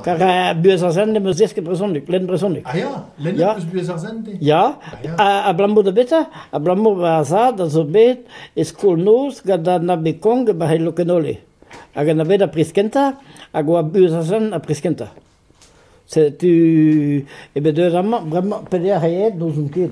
Car buhez ar Sende 'm eus desket brezhoneg, lenn brezhoneg. Ah ya, lennet 'm eus buhez ar Sende. Ya, ha abalamour da betra? Abalamour ma zad a zo bet e skol-noz gant an ame Kong e Barc'hel Lokenole. Hag an bet ar priz kentañ, hag oa buhez ar Sende ar priz kentañ. Setu eo bet deuet amañ, bremañ, peder aet n'ouzon ket.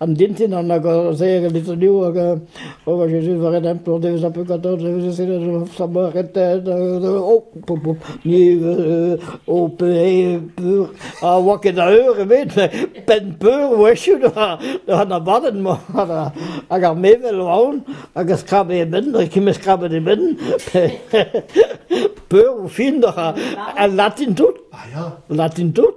Am dintin an hag ar zeir lizuniou hag a oa Jezuz war e dempl an devez a peu quatorze devez e a saboa retet o pop pop ni o pe peur a oa ket a eur ebet penn peur wechu an abadenn mañ hag ar mevel aon hag a skrabe e benn hag e skrabet e benn peur o fin al latin tout latin tout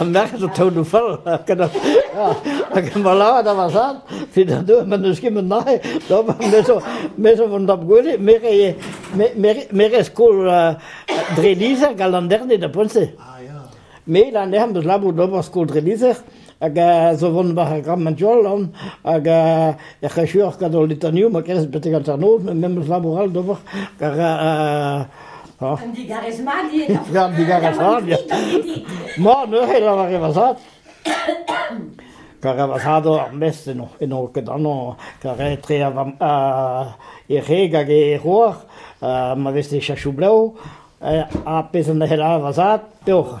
An nec'h zo taout fall gant hag e malaad a vasad, fi da deu ma n'eus ket met nahe, donc me zo me zo vont dab gwele, me re me re skol dre lizher gant an dernet da poent-se. Me la nec'h 'm eus labour d'ober skol dre lizher, hag a zo vont war ar Grammadiollan hag ec'h echuoc'h gant hol litaniou ma kerez betek hanternoz, met me 'm eus labour all d'ober gant an digarez mat eo. Gant digarez mat, ya. Ma, neuze lavaret va zad. Kar a vazado ar mest eno, eno ket anno, kar etre a vam a e reg hag e roar, ma veste chachou bleo, a pez an ehela a vazad, peoc'h.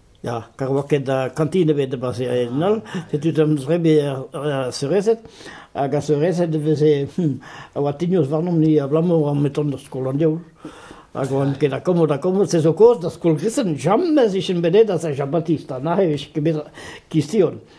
Ya, kar oa ket kantin ebet e Barzh-Herenol, setu d'am zrebi ar seurezed, hag ar seurezed e veze a oa tignos warnomp-ni abalamour on bet tont d'ar skol an diaoul, hag oan ket akomod akomod, se zo kaoz d'ar skol gristen, jamez 'vijen bet aet da Saint-Jean-Baptiste, ha neuze 'vije ket bet kistion.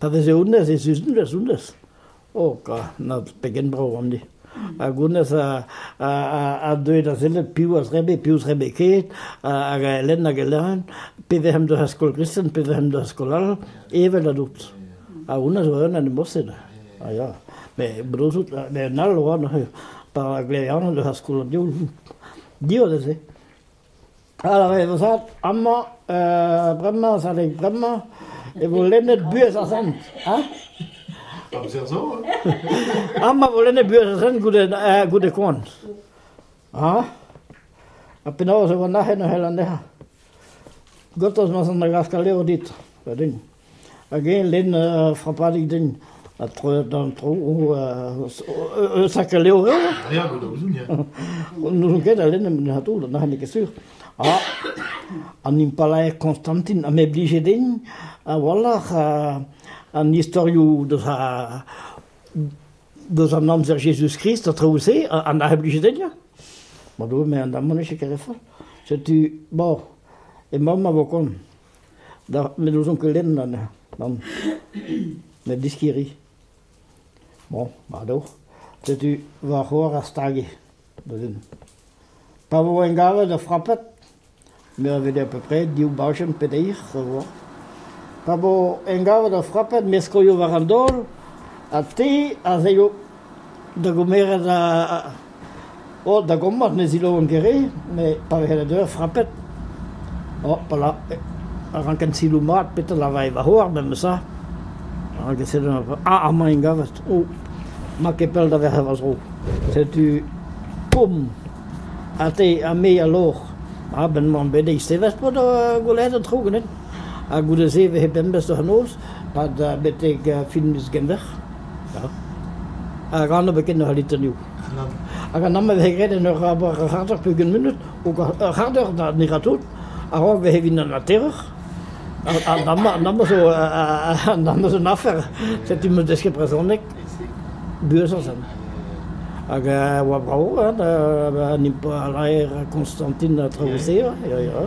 Pa veze honnezh ez eus honnezh honnezh, oh ka na pegen brav on ni. Hag honnezh a a a deue da sellet piv a zrebe, piv zrebe ket, hag a elen hag a elen, pe vehemp d'ur skol gristen, pe vehemp d'ur skol all, evel a dout. Ha honnezh oa un animoset, a ya. Mais blouzout, met un all oa neuze, pa glevian d'ur skol div, div a veze. Alors e vo savet amañ euh, bremañ savet bremañ e vo lennet buhez ar Zent, hein? Amzer zo, hein? Amañ vo lennet buhez ar Zent goude euh, goude koan, ha? Ha penaos e vo nac'het neuze anezhañ? Gotos ma san da glask al levr dit, va din. Hag eñ lenn ur frapadig din ha troet d'an tro eus a levr n'ouzon ket a lenn em c'hador nac'h n'eo ket sur ha an impalaer Konstantin am eo blijet din a-walc'h an istorioù deus deus an amzer Jezuz-Krist ha traoù-se a nac'h blijet din ya ma Doue me an damant eo ket ket re fall setu bon emaomp a vo koant Da, met n'ouzon ket lenn anezhañ, nann, met diskiri. Bon, ado, setu va c'hoar a stage neuzen. Pa vo engavet ur frapet, me a vede à peu près div bajenn pe deir, voilà. Pa vo engavet ur frapet, me skoio war an daol, ha te a zeio da gomeret a- Oh da gommad ne zilaouen ket re, met pa vehe eur frapet, oh pala a ranken siloù mat petra a lavae va c'hoar memesa, a ranke sevel ur... ah amañ int gavet, oh ma ket pell da verc'h va zro, setu poum! ha te ha me a lor, ah ben 'mañ bet eistevet pad gwelet an tro ganin, ha goude se 'vehe pemdez d'an noz, pad betek fin miz Genver. Hag anv ebet ken ur litr niv. Hag an anv a vez graet en ur c'harter pegement munut, ur c'harter ne ra tout, a-raok bezañ evit an ateroc'h. An anv zo an anv zo un afer, setu m'o deus ket brezhoneg buazañ. Hag a oa brav ha impalaer Konstantin ha traoù-se ya, ya.